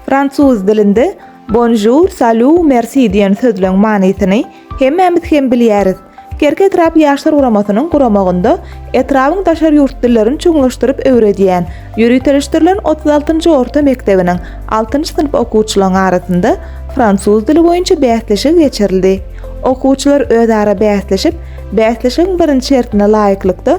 Fransuz dilinde Bonjour, salut, merci diýen sözleň manysyny hemmämiz hem bilýäris. Kerki etrap ýaşlar guramasynyň guramagynda etrabyň daşary ýurt dillerini çuňlaşdyryp öwredýän, ýöriteleşdirilen otuz altynjy orta mekdebiniň altynjy synp okuwçylaryň arasynda fransuz dili boýunça bäsleşik geçirildi. Okuwçylar özara bäsleşip, bäsleşigiň birinji şertine laýyklykda,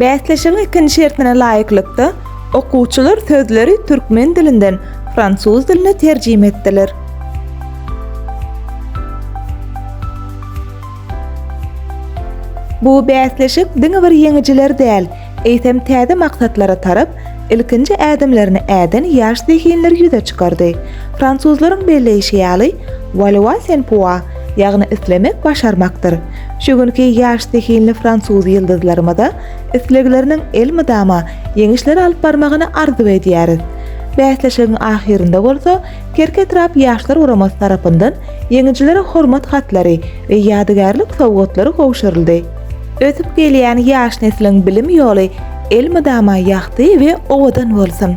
Bäsleşigiň ikinji şertine laýyklykda, okuwçylar sözleri türkmen dilinden fransuz diline terjime etdiler. Bu bäsleşik diňe bir ýeňijiler däl, Eýsem täze maksatlara tarap ilkinji ädimlerini äden ýaş zehinleri ýüze çykardy. Fransuzlaryň belleýşi ýaly, Vouloir c'est pouvoir, ýagny islemek başarmakdyr. Şu günki ýaş zehinli fransuz ýyldyzlarymyza islegleriniň elmydama ýeňişlere alyp barmagyny arzuw edýäris. Bäsleşigiň ahyrynda bolsa Kerki etrap Ýaşlar guramasy tarapyndan ýeňijilere hormat hatlary we ýadygärlik sowgatlary gowşuryldy. Ösüp gelýän ýaş nesliň bilim ýoly elmydama ýagty we owadan bolsun!